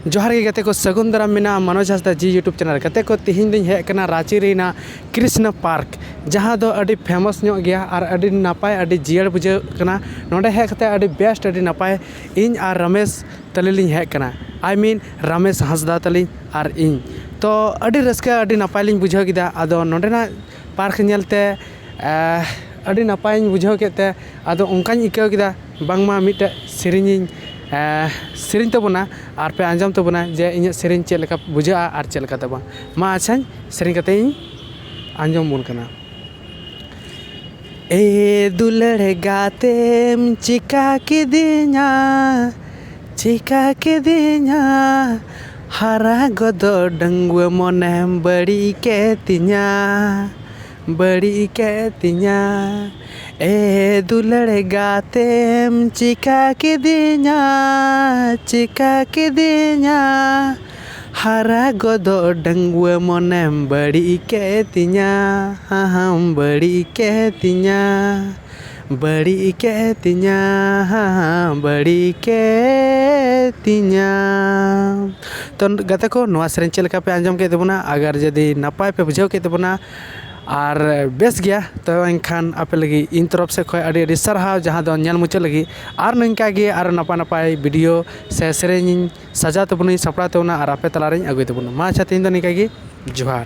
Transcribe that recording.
ᱡᱚᱦᱟᱨ ᱜᱮ ᱜᱟᱛᱮ ᱠᱚ ᱥᱟᱹᱜᱩᱱ ᱫᱟᱨᱟᱢ ᱢᱮᱱᱟᱜᱼᱟ ᱢᱟᱱᱚᱡᱽ ᱦᱟᱸᱥᱫᱟ ᱡᱤ ᱭᱩᱴᱩᱵᱽ ᱪᱮᱱᱮᱞ ᱜᱟᱛᱮ ᱠᱚ ᱛᱤᱦᱤᱧ ᱫᱚᱧ ᱦᱮᱡ ᱟᱠᱟᱱᱟ ᱨᱟᱺᱪᱤ ᱨᱮᱱᱟᱜ ᱠᱨᱤᱥᱱᱚ ᱯᱟᱨᱠ ᱡᱟᱦᱟᱸ ᱫᱚ ᱟᱹᱰᱤ ᱯᱷᱮᱢᱟᱥ ᱧᱚᱜ ᱜᱮᱭᱟ ᱟᱨ ᱟᱹᱰᱤ ᱱᱟᱯᱟᱭ ᱟᱹᱰᱤ ᱡᱤᱭᱟᱹᱲ ᱵᱩᱡᱷᱟᱹᱜ ᱠᱟᱱᱟ ᱱᱚᱸᱰᱮ ᱦᱮᱡ ᱠᱟᱛᱮ ᱟᱹᱰᱤ ᱵᱮᱥᱴ ᱟᱹᱰᱤ ᱱᱟᱯᱟᱭ ᱤᱧ ᱟᱨ ᱨᱚᱢᱮᱥ ᱛᱟᱹᱞᱤᱧ ᱞᱤᱧ ᱦᱮᱡ ᱠᱟᱱᱟ ᱟᱭ ᱢᱤᱱ ᱨᱚᱢᱮᱥ ᱦᱟᱸᱥᱫᱟ ᱛᱟᱹᱞᱤᱧ ᱟᱨ ᱤᱧ ᱛᱚ ᱟᱹᱰᱤ ᱨᱟᱹᱥᱠᱟᱹ ᱟᱹᱰᱤ ᱱᱟᱯᱟᱭ ᱞᱤᱧ ᱵᱩᱡᱷᱟᱹᱣ ᱠᱮᱫᱟ ᱟᱫᱚ ᱱᱚᱸᱰᱮᱱᱟᱜ ᱯᱟᱨᱠ ᱧᱮᱞᱛᱮ ᱟᱹᱰᱤ ᱱᱟᱯᱟᱭᱤᱧ ᱵᱩᱡᱷᱟᱹᱣ ᱠᱮᱫ ᱛᱮ ᱟᱫᱚ ᱚᱱᱠᱟᱧ ᱟᱹᱭᱠᱟᱹᱣ ᱠᱮᱫᱟ ᱵᱟᱝᱢᱟ ᱢᱤᱫᱴᱮᱡ ᱥᱮᱨᱮᱧᱤᱧ ᱥᱮᱨᱮᱧ ᱛᱟᱵᱚᱱᱟ ᱟᱨ ᱯᱮ ᱟᱸᱡᱚᱢ ᱛᱟᱵᱚᱱᱟ ᱡᱮ ᱤᱧᱟᱹᱜ ᱥᱮᱨᱮᱧ ᱪᱮᱫ ᱞᱮᱠᱟ ᱵᱩᱡᱷᱟᱹᱜᱼᱟ ᱟᱨ ᱪᱮᱫ ᱞᱮᱠᱟᱛᱮ ᱵᱟᱝ ᱢᱟ ᱟᱪᱪᱷᱟᱧ ᱥᱮᱨᱮᱧ ᱠᱟᱛᱮ ᱤᱧ ᱟᱸᱡᱚᱢ ᱟᱵᱚᱱ ᱠᱟᱱᱟ ᱮ ᱫᱩᱞᱟᱹᱲ ᱜᱟᱛᱮᱢ ᱪᱤᱠᱟᱹ ᱠᱤᱫᱤᱧᱟ ᱪᱤᱠᱟᱹ ᱠᱤᱫᱤᱧᱟ ᱦᱟᱨᱟ ᱜᱚᱫᱚᱜ ᱰᱟᱺᱜᱩᱣᱟᱹ ᱢᱚᱱᱮᱢ ᱵᱟᱹᱲᱤᱡ ᱠᱮᱫ ᱛᱤᱧᱟ ᱵᱟᱹᱲᱤᱡ ᱠᱮᱫ ᱛᱤᱧᱟ ᱮ ᱫᱩᱞᱟᱹᱲ ᱜᱟᱛᱮᱢ ᱪᱤᱠᱟᱹ ᱠᱤᱫᱤᱧᱟ ᱪᱤᱠᱟᱹ ᱠᱤᱫᱤᱧᱟ ᱦᱟᱨᱟ ᱜᱚᱫᱚᱜ ᱰᱟᱺᱜᱩᱣᱟᱹ ᱢᱚᱱᱮᱢ ᱵᱟᱹᱲᱤᱡ ᱠᱮᱫ ᱛᱤᱧᱟ ᱦᱟᱦᱟᱢ ᱵᱟᱹᱲᱤᱡ ᱠᱮᱫ ᱛᱤᱧᱟ ᱵᱟᱹᱲᱤᱡ ᱠᱮᱫ ᱛᱤᱧᱟᱢ ᱵᱟᱹᱲᱤᱡ ᱠᱮᱫ ᱛᱤᱧᱟᱢ ᱛᱚ ᱜᱟᱛᱮ ᱠᱚ ᱱᱚᱣᱟ ᱥᱮᱨᱮᱧ ᱪᱮᱫ ᱞᱮᱠᱟ ᱯᱮ ᱟᱸᱡᱚᱢ ᱠᱮᱫ ᱛᱟᱵᱚᱱᱟ ᱟᱜᱟᱨ ᱡᱩᱫᱤ ᱱᱟᱯᱟᱭ ᱯᱮ ᱵᱩᱡᱷᱟᱹᱣ ᱠᱮᱫ ᱛᱟᱵᱚᱱᱟ ᱟᱨ ᱵᱮᱥ ᱜᱮᱭᱟ ᱛᱚ ᱮᱱᱠᱷᱟᱱ ᱟᱯᱮ ᱞᱟᱹᱜᱤᱫ ᱤᱧ ᱛᱚᱨᱚᱯᱷ ᱥᱮᱫ ᱠᱷᱚᱱ ᱟᱹᱰᱤ ᱟᱹᱰᱤ ᱥᱟᱨᱦᱟᱣ ᱡᱟᱦᱟᱸ ᱫᱚ ᱧᱮᱞ ᱢᱩᱪᱟᱹᱫ ᱞᱟᱹᱜᱤᱫ ᱟᱨ ᱱᱤᱝᱠᱟ ᱜᱮ ᱟᱨᱚ ᱱᱟᱯᱟᱭ ᱱᱟᱯᱟᱭ ᱵᱷᱤᱰᱤᱭᱳ ᱥᱮ ᱥᱮᱨᱮᱧ ᱤᱧ ᱥᱟᱡᱟᱣ ᱛᱟᱵᱚᱱᱟᱹᱧ ᱥᱟᱯᱲᱟᱣ ᱛᱟᱵᱚᱱᱟ ᱟᱨ ᱟᱯᱮ ᱛᱟᱞᱟᱨᱤᱧ ᱟᱹᱜᱩᱭ ᱛᱟᱵᱚᱱᱟ ᱢᱟ ᱟᱪᱪᱷᱟ ᱛᱮᱦᱮᱧ ᱫᱚ ᱱᱤᱝᱠᱟ ᱜᱮ ᱡᱚᱦᱟᱨ